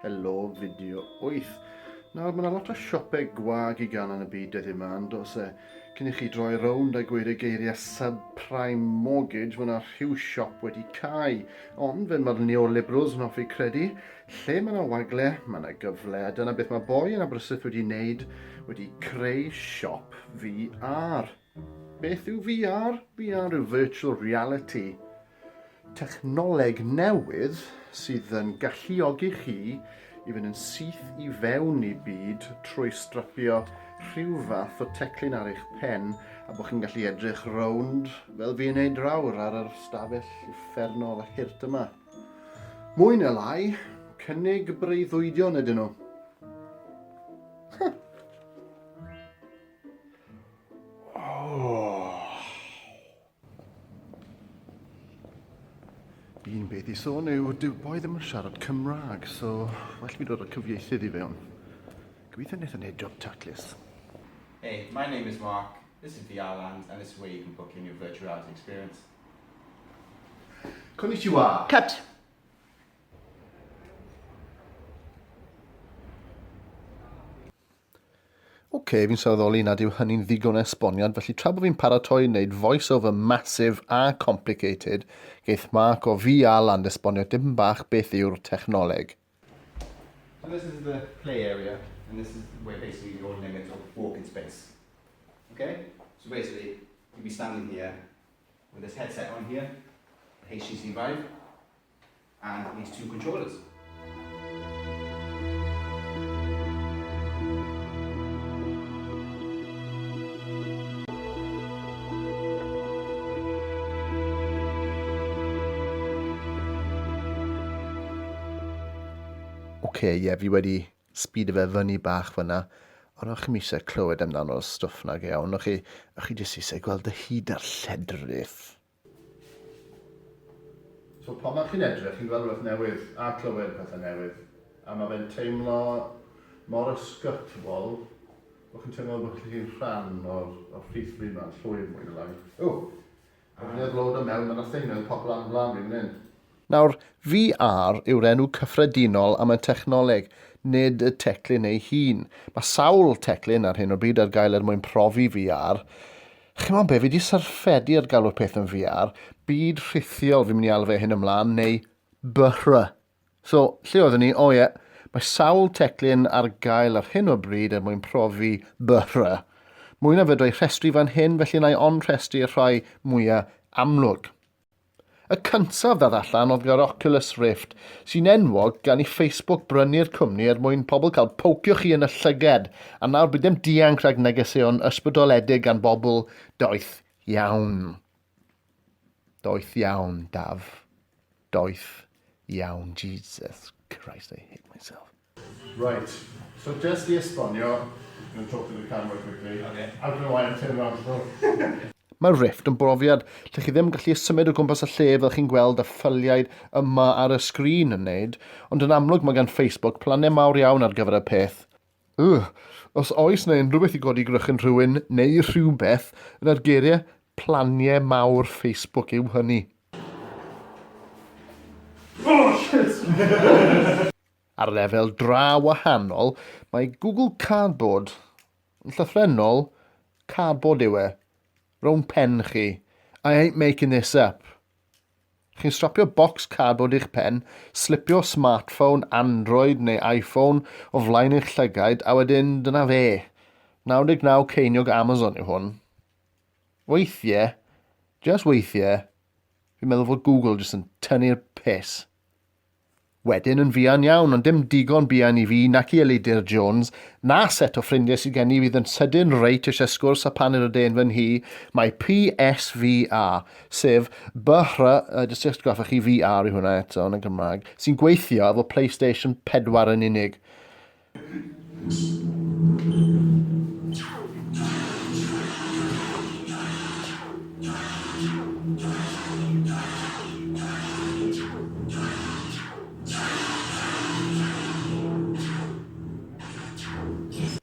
Helo, fideo 8. Nawr, mae yna lot o siopau gwag i gael yn y byd dyddiau yma, yn dos e. Cyn i chi droi rownd a gweud y geiriau subprime mortgage, mae yna rhyw siop wedi cau. Ond, fel mae'r neoliberals yn hoffi credu, lle mae yna wagle, mae yna gyfle, a dyna beth mae boi yn Aberystwyth wedi wneud, wedi creu siop VR. Beth yw VR? VR yw Virtual Reality, technoleg newydd sydd yn galluogi chi i fynd yn syth i fewn i byd trwy strapio rhyw fath o teclyn ar eich pen a bod chi'n gallu edrych rownd fel fi'n neud rawr ar yr stafell uffernol a hirt yma. Mwy neu lai, cynnig breuddwydion ydyn nhw. beth i sôn yw, dyw boi ddim yn siarad Cymraeg, so well fi dod â cyfieithydd i fewn. Gobeithio wnaeth yn neud job taclus. Hey, my name is Mark, this is VR Land, and this is where you can book in your virtual reality experience. Konnichiwa! Cut! OK, fi'n sylweddoli nad yw hynny'n ddigon o esboniad, felly tra bod fi'n paratoi wneud voice-over massive a complicated, geith Mark o VR Land esbonio dipyn bach beth yw'r technoleg. So this is the play area, and this is where basically your limit of walking space. Okay? So basically, you'd be standing here with this headset on here, HTC Vive, and these two controllers. Oce, okay, ie, yeah, fi wedi speedo fe fyny bach fyna, ond o'ch chi'n eisiau clywed amdano'r stwff na gewn, o'ch chi, o'ch chi jyst eisiau gweld y hyd a'r lledrith. So pan mae chi'n edrych, chi'n gweld rhywbeth newydd a clywed pethau newydd, a mae fe'n teimlo mor ysgytwol bod chi'n teimlo bod chi'n rhan o'r, or rhith bryd ma'n llwyr mwy na lai. O! Pan fi'n edrych lawr da mewn, mae yna thing newydd popio lan yn flan fi fan hyn. Nawr, VR yw'r enw cyffredinol am y technoleg, nid y teclyn ei hun. Mae sawl teclyn ar hyn o bryd ar gael er mwyn profi VR. Chimod be, fi di syrffedi ar galw'r peth yn VR, byd rhithiol fi'n mynd i alw fe hyn ymlaen, neu BHRA. So, lle oeddwn ni? O ie, mae sawl teclyn ar gael ar hyn o bryd er mwyn profi BHRA. Mwy na fedra i rhestru fan hyn, felly na i onrhestru'r rhai mwyaf amlwg. Y cyntaf ddod allan oedd yr Oculus Rift, sy'n enwog gan i Facebook brynu'r cwmni er mwyn pobl cael pocio chi yn y llyged, a nawr bydd dim dianc rhag negeseuon ysbrydoledig gan bobl doeth iawn. Doeth iawn, Daf. Doeth iawn, Jesus Christ, I hate myself. Reit, so jyst i esbonio, I'm going to talk to the camera quickly, I don't know why I turned around to look. Mae Rift yn brofiad lle chi ddim yn gallu symud o gwmpas y lle fel chi'n gweld y ffyliaid yma ar y sgrin yn neud, ond yn amlwg mae gan Facebook plannau mawr iawn ar gyfer y peth. Ugh, os oes 'na unrhywbeth i godi gwrychyn rhywun neu rhywbeth, yna'r geiriau 'planiau mawr Facebook' yw hynny. Ar lefel draw wahanol, mae Google Cardboard, yn llythrennol, cardboard yw e, rownd pen chi. I ain't making this up. Chi'n strapio bocs cardboard i'ch pen, slipio smartphone, Android neu iPhone o flaen eich llygaid a wedyn dyna fe. 99 ceiniog Amazon yw hwn. Weithiau, just weithiau, fi'n meddwl fod Google jyst yn tynnu'r piss. Wedyn yn fuan iawn, ond dim digon buan i fi nac i Elidir Jones, na set o ffrindiau sydd gen i fydd yn sydyn reit eisiau sgwrs a phan yr ydyn yn fy nhŷ, mae PSVA, sef BHR, uh, jyst i'ch atgoffa chi VR yw hwnna eto yn y Gymraeg, sy'n gweithio efo PlayStation 4 yn unig.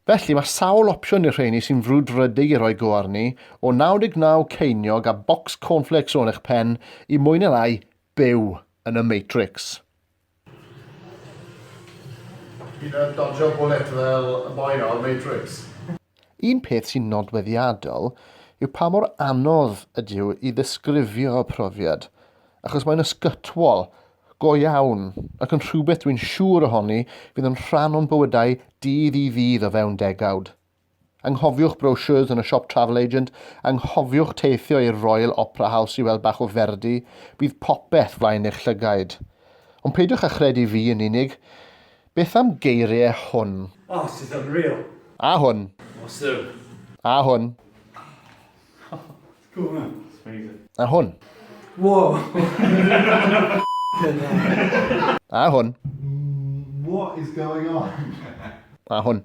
Felly mae sawl opsiwn i'r rheini sy'n frwdfrydig i roi go arni, o 99 ceiniog a bocs cornflakes o'n eich pen i mwy neu lai byw yn y Matrix. Hyd yn oed dodjo bwlet fel y boi 'na o'r Matrix. Un peth sy'n nodweddiadol yw pa mor anodd ydyw i ddisgrifio y profiad, achos mae'n ysgytwol, go iawn, ac yn rhywbeth dwi'n siŵr ohoni fydd yn rhan o'n bywydau dydd i ddydd o fewn degawd. Anghofiwch brochures yn y siop Travel Agent, anghofiwch teithio i'r Royal Opera House i weld bach o Verdi, bydd popeth flaen eich llygaid. Ond peidiwch â chredu fi yn unig. Beth am geiriau hwn? Oh, it's just unreal. A hwn. Awesome. A hwn. It's cool, man. It's amazing. A hwn. Whoa. A hwn. What is going on? A hwn.